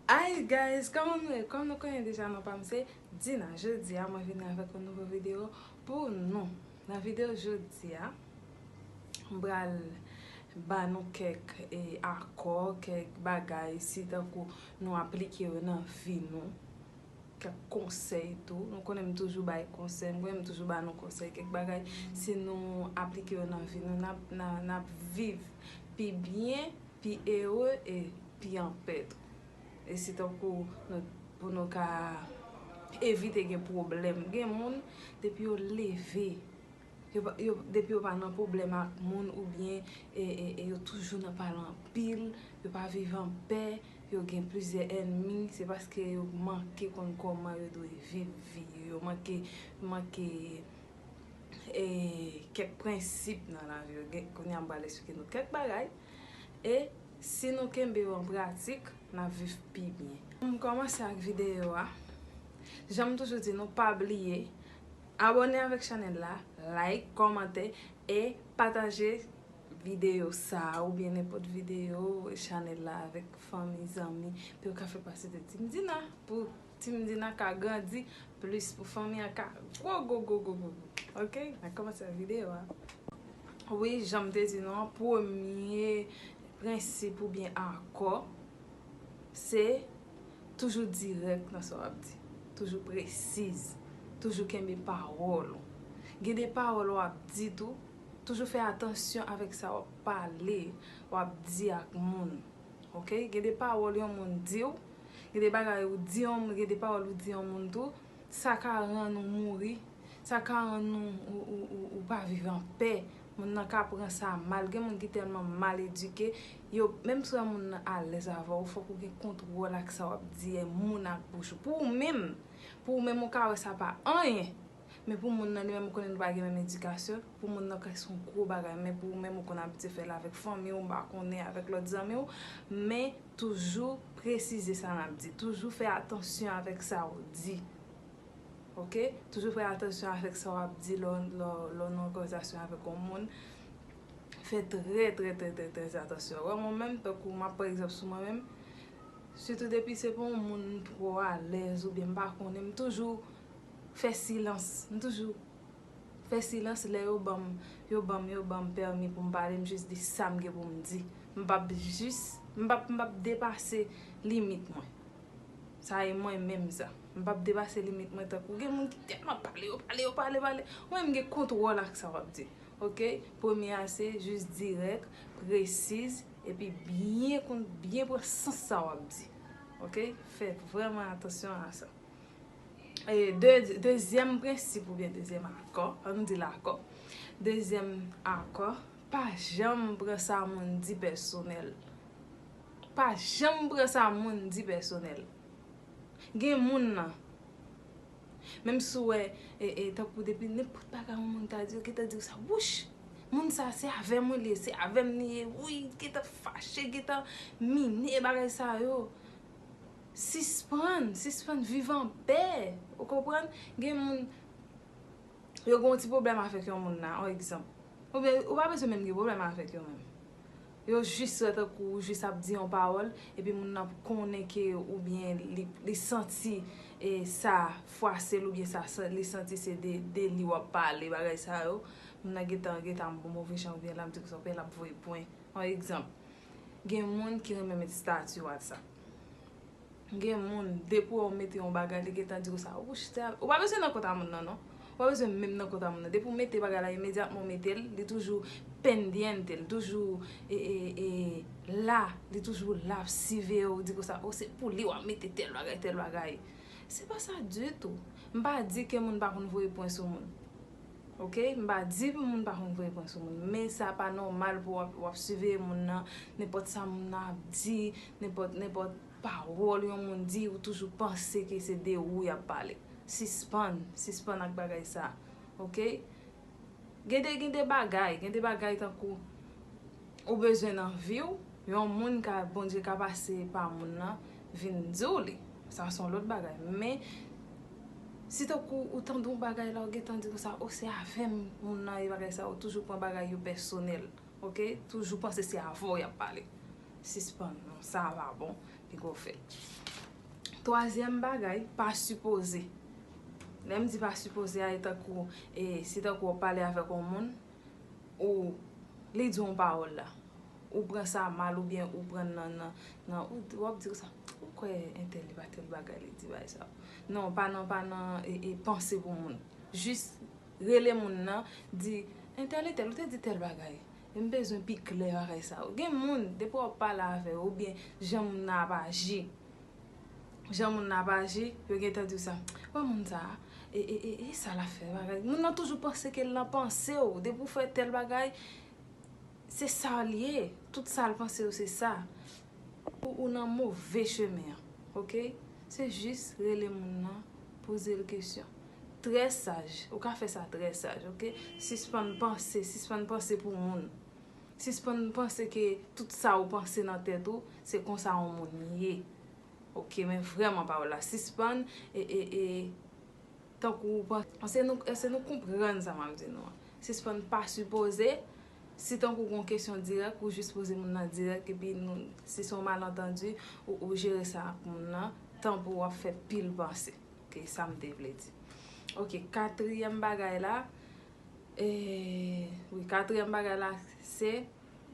Hi guys kòman nou ye kòm nou konnen deja non pam se Dina jodi a mwen vini avèk yon nouvo video pou nou nan video jodi a m pral ba nou kèk akò kèk bagay si tankou nou aplike yo nan vi nou. Kèk konsèy tou, nou konnen m toujou bay konsèy, m konnen m toujou ba nou konsèy, kèk bagay si nou aplike yo nan vi nou n ap viv pi byen, pi ere e pi anpè tou. E se tankou pou nou ka evite gen pwoblèm. Gen moun depi yo leve Depi yo pa nan pwoblèm ak moun oubyen yo toujou nan pale anpil, yo pa viv an pè, yo gen plizyè ènmi, se paske yo manke konn kòman yo dwe viv vi yo, yo manke kèk prensip nan lavi yo. Kounye a m pral esplike nou kèk bagay e si nou kenbe yo an pratik, n ap viv pi byen. Pou m kòmanse ak videyo a, jan m toujou di nou pa bliye. Abone avèk chanèl la, like, kòmante e pataje video sa ou byen nenpòt video chanèl la avèk fanmi, zanmi pou yo ka fè pase de Team Dina pou Team Dina ka grandi plis pou fanmi an ka gwo gwo gwo gwo gwo ok nan kòmansè nan video a wi janm te di nou an premye prensip ou byen akò se. Toujou dirèk nan sa w ap di. Toujou presiz. Toujou kenbe pawòl ou. Gen de pawòl w ap di tou, toujou fè atansyon avèk sa w ap pale, w ap di ak moun. Ok, gen de pawòl yon moun di w, gen de bagay ou di yon moun, gen de pawòl ou di yon moun tou, sa ka rann ou mouri, sa ka rann ou pa viv an pè, moun nan ka pran sa mal, gen moun ki tèlman mal edike, yo, menm si w wè moun nan alèz avè w, fòk ou gen kontwòl ak sa w ap di moun ak bouch ou, pou ou menm, pou ou menm ou ka wè sa pa anyen, men pou moun nan li menm ou konnen nou pa gen menm edikasyon, pou moun nan kèk se yon gwo bagay, men pou ou menm ou konnen w ap di fè l avèk fanmi w, m pa konnen, avèk lòt zanmi w, men. Toujou presize sa nap di. Toujou fè atansyon avèk sa ou di. Ok. Toujou fè atansyon avèk sa wap di lè w nan yon konvèzasyon avèk yon moun. Fè trè trè trè trè trè atansyon. Wè mwen menm tankou map pran egzanp sou mwen menm. Sitou depi se pa yon moun m twò alèz oubyen m pa konnen m toujou fè silans. M toujou. fè silans lè yo banm yo banm yo banm pèmi pou m pale m jis di sa m gen pou m di m pap jis m pap m pap depase limit mwen sa e mwen menm sa m pap depase limit mwen tankou gen moun ki tèlman pale yo pale yo pale pale mwen menm m gen kontwòl ak sa w ap di ok premye a se jis dirèk presiz epi byen konn byen pran sans sa w ap di ok fè vrèman atansyon a sa. Dezyèm prensip oubyen dezyèm akò, an nou di l akò, dezyèm akò, pa janm pran sa moun di pèsonèl. Pa janm pran sa moun di pèsonèl. Gen moun nan, menm si w wè, e tankou depi nenpòt bagay yon moun ta di w, gen tan di w sa, wouch! Moun sa se avè mwen li ye, se avè m li ye, wouyy, gen tan fache, gen tan mine bagay sa yo. Sispann, sispann viv an pè, ou konprann? Gen moun, yo gen yon ti pwoblèm avèk yon moun la, yon egzanp. Oubyen, ou pa bezwen menm gen pwoblèm avèk yo menm. Yo jis wè tankou ou jis ap di yon pawòl, epi moun nan konnen ke oubyen li santi e sa fwase l oubyen sa li santi se de li w ap pale, bagay sa yo, moun nan gen tan, gen tan move jan oubyen l ap di w sa oubyen l ap voye pwen, yon egzanp. Gen moun ki renmen met stati WhatsApp. Gen moun depi wè ou mete yon bagay li gentan diw sa wouch te al. Ou pa bezwen nan kont a moun nan non. Ou pa bezwen menm nan kont a moun nan. Depi ou mete bagay la imedyatman ou metel li toujou pendiente li toujou e la li toujou la ap siveye ou di konsa o se pou li wap mete tel bagay tel bagay. Se pa sa ditou. M pa di ke moun pa konn voye pwen sou moun. Ok m pa di moun pa konn pran pran sou moun men sa pa nòmal pou wap siveye moun nan nenpòt sa moun nan ap di nenpòt nenpòt pawòl yon moun di ou toujou panse ke se de ou yap pale sispann sispann ak bagay sa ok gen de gen de bagay gen de bagay tankou ou bezwen nan viw yon moun ka Bondye ka pase pa moun lan vin diw li sa son lòt bagay men si tankou ou tande yon bagay la ou gentan di konsa oh se avèm moun nan ye bagay sa yo toujou pran bagay yo pèsonèl ok toujou panse se avèw yap pale sispann non sa pa bon li gò fè twazyèm bagay pa sipoze lèm di pa sipoze a e tankou e si tankou wap pale avèk yon moun ou li di yon pawòl la, ou pran sa mal oubyen ou pran nan nan ou wap di konsa ou kwè entèl li pa tèl bagay li di bagay sa. Non pa nan pa nan e panse pou moun. Jis rele moun nan di entèl entèl ou te di tèl bagay e m bezwen pi klè bagay sa. Gen moun depi wap pale avè yo oubyen jan moun nan ap aji. jan moun nan ap aji, yo gentan di w sa, bon moun sa, e sa l ap fè bagay, moun nan toujou panse ke l nan panse w, depi w fè tèl bagay, se sa l ye, tout sa l panse yo se sa, ou nan move chemen an, ok, se jis rele moun nan, poze l kesyon, trè saj, ou ka fè sa trè saj, ok, sispann panse, sispann panse pou moun. Sispann panse ke tout sa ou panse nan tèt ou se konsa on moun ye ok men vrèman pa w la sispann e tankou ou panse èske nou konprann sa map di nou an sispann pa sipoze si tankou gon kesyon dirèk ou jis poze moun nan dirèk epi si son malantandi ou jere sa ak moun nan tan pou wap fè pil panse ok sa m te vle di ok katriyèm bagay la Eeh wi katriyèm bagay la se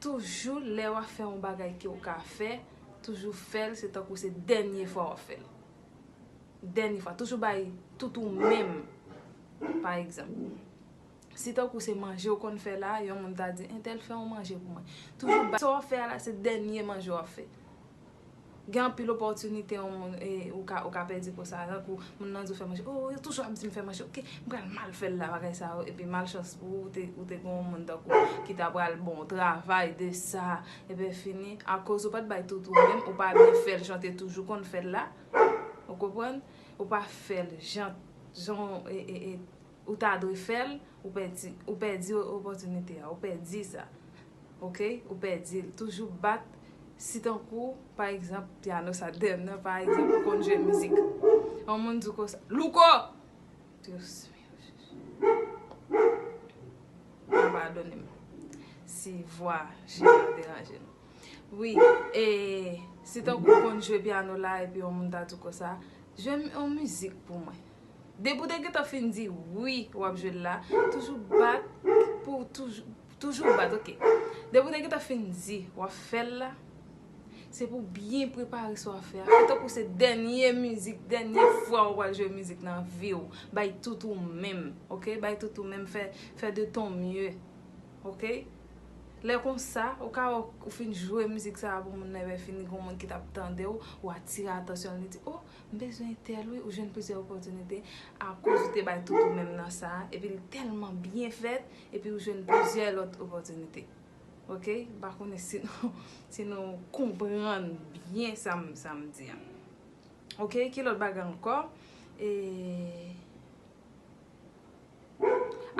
toujou lè wap fè yon bagay ke ou ka fè toujou fèl se tankou se dènye fwa wap fèl dènye fwa toujou bay tout ou menm pa egzanp si tankou se manje ou konn fè la yon moun ta di entèl fè yon manje pou mwen toujou bay sa wap fè a la se dènye manje wap fè Gen anpil opòtinite yon moun ou ka pèdi konsa tankou moun nan di w fè manche oh yo toujou ap di m fè manche ok m pral mal fè l la bagay sa yo epi malchans pou ou ou te gen yon moun tankou w ki ta pral bon w travay de sa epenfini akoz ou pa t bay tout ou menm ou pa byen fè l jan w te toujou konn fè l la ou konprann ou pa fè l jan jan w Ou ta dwe fèl, ou pèdi, ou pèdi opòtinite a, ou pèdi sa. Ok, ou pèdi l. Toujou bat si tankou pa egzanp piano sa dèyè m nan pa egzanp ou konn jwe mizik. Yon moun di w konsa, Louko! Dios mio Jesus. Mwen padone m si vwa chè a deranje nou. Wi, e si tankou ou konn jwe piano la epi yon moun ta di w konsa, jwe yon mizik pou mwen. Depi ou te gentan fin di wi wap jwe l la, toujou bat pou w toujou, toujou bat ok. Depi ou te gentan fin di wap fè l la, se pou w byen prepare sa w ap fè a. Fè tankou se dènye mizik, dènye fwa ou pral jwe mizik nan vi w. Bay tout ou menm ok, bay tout ou menm, fè de ton mye ok. Lè konsa ou ka wè ou fin jwe mizik sa a pou moun nan epi fini gen yon moun ki tap tande w, ou atire atansyon l li di oh M bezwen tel wi ou jwenn plizyè opòtinite akoz ou te bay tout ou menm nan sa epi li tèlman byen fèt epi ou jwenn plizyè lòt opòtinite ok m pa konnen si nou si nou konprann byen sa m sa m di an ok ki lòt bagay ankò eee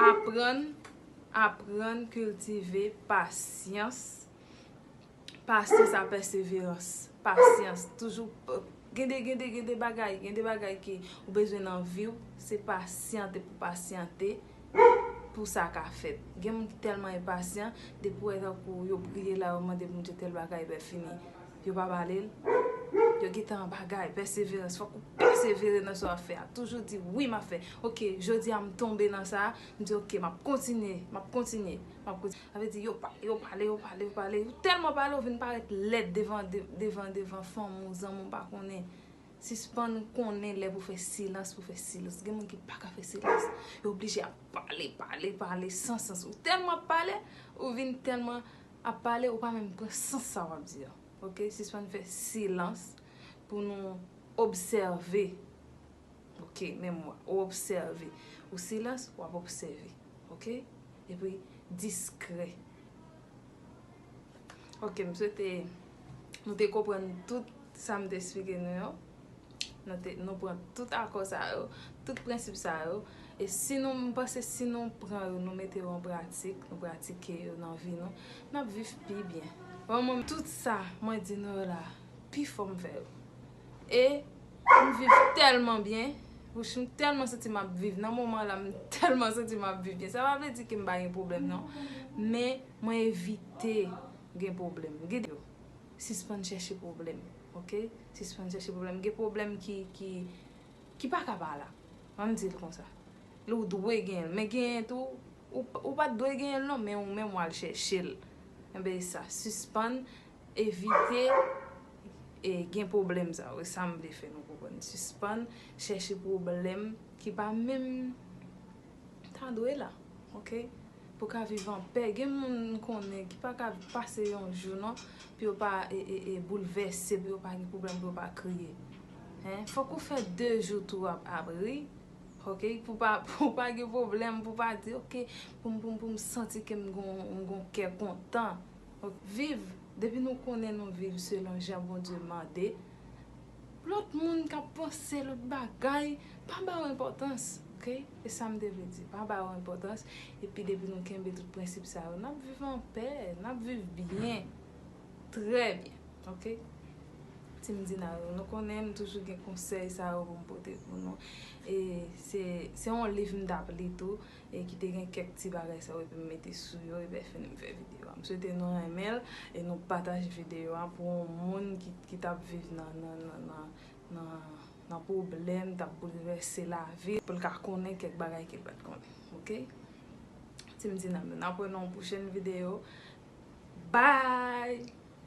aprann aprann kiltive pasyans Pasyans a pèseverans, pasyans, toujou gen de gen de gen de bagay, gen de bagay ke ou bezwen nan vi ou, se pasyante pou pasyante pou sa ka fèt. Gen moun ki tèlman enpasyan, depi wè tankou yo priye la, yo mande Bondye tèl bagay epi fini, yo pa bale l, yo gen tan bagay, pèseverans, fòk ou pèsevere nan sa w ap fè a, toujou di wi m ap fè, ok, jodi a m tonbe nan sa, m di ok, m ap kontinye, m ap kontinye, m ap kontinye. Sa vle di yo pale, yo pale, yo pale, yo pale. Ou tèlman pale ou vin parèt lèd devan devan devan fanmi w, zanmi w pa konnen. Sispann konnen lè pou fè silans, pou fè silans. Gen moun ki pa ka fè silans. Yo oblije ap pale, pale, pale san sans. Ou tèlman ap pale, ou vin tèlman ap pale ou pa menm pran sans sa w ap di a. Ok, sispann fè silans pou nou obsève Ok men mwa ou obsève. Ou silans ou ap obsève. Ok epi diskrè. Ok m swete nou te konprann tout sa m te esplike nou yo. Nou pran tout akò sa yo. Tout prensip sa yo. E si nou m panse si nou pran yo nou mete yo an pratik. Nou pratike yo nan vi nou. N ap viv pi byen. Tout sa mwen di nou yo la. Pi fò m fè yo. E. M viv tèlman byen. Wouch m tèlman santi m ap viv. Nan moman la m tèlman santi m ap viv byen. Sa pa vle di ke m pa gen pwoblèm non. Men mwen evite gen pwoblèm. Gade yo. Sispann chèche pwoblèm. Ok. Sispann chèche pwoblèm. Gen pwoblèm ki, ki, ki pa ka pa la. An n di l konsa. Lè w dwe gen l. Men genyen tou, ou pa dwe genyen l non. Men ou menm w al chèche l. Enben e sa. Sispann Evite gen pwoblèm sa yo. E sa m vle fè nou konprann. Sispann chèche pwoblèm ki pa menm ta dwe la. Ok? Pou w ka viv an pè. Gen moun m konnen ki pa ka pase yon jou non pou yo pa boulvèse, pou yo pa gen pwoblèm, pou yo pa kriye. Fòk ou fè de jou tou w ap ri. Ok? Pou w pa gen pwoblèm, pou w pa di ok pou m santi ke m gen yon kè kontan. Viv, depi nou konnen nou viv selon jan Bondye mande, lòt moun ka panse lòt bagay, pa ba yo enpòtans, ok, e sa m te vle di, pa ba yo enpòtans, epi depi nou kenbe tout prensip sa yo, n ap viv an pè, n ap viv byen, trè byen, ok. Team Dinaro, nou konnen m toujou gen konsèy sa yo pou m pote pou nou, e se yon liv m t ap li tou, e ki te gen kèk ti bagay sa yo epi m mete sou yo epi lèfini m fè videyo a. M swete nou renmen l e nou pataje videyo a pou yon moun ki t ap viv nan pwoblèm, t ap boulvèse lavi l, pou l ka konnen kèk bagay ke l pa t konnen. Ok? Ti m ti nanm yo, n ap wè nan yon pwochèn videyo. Bye!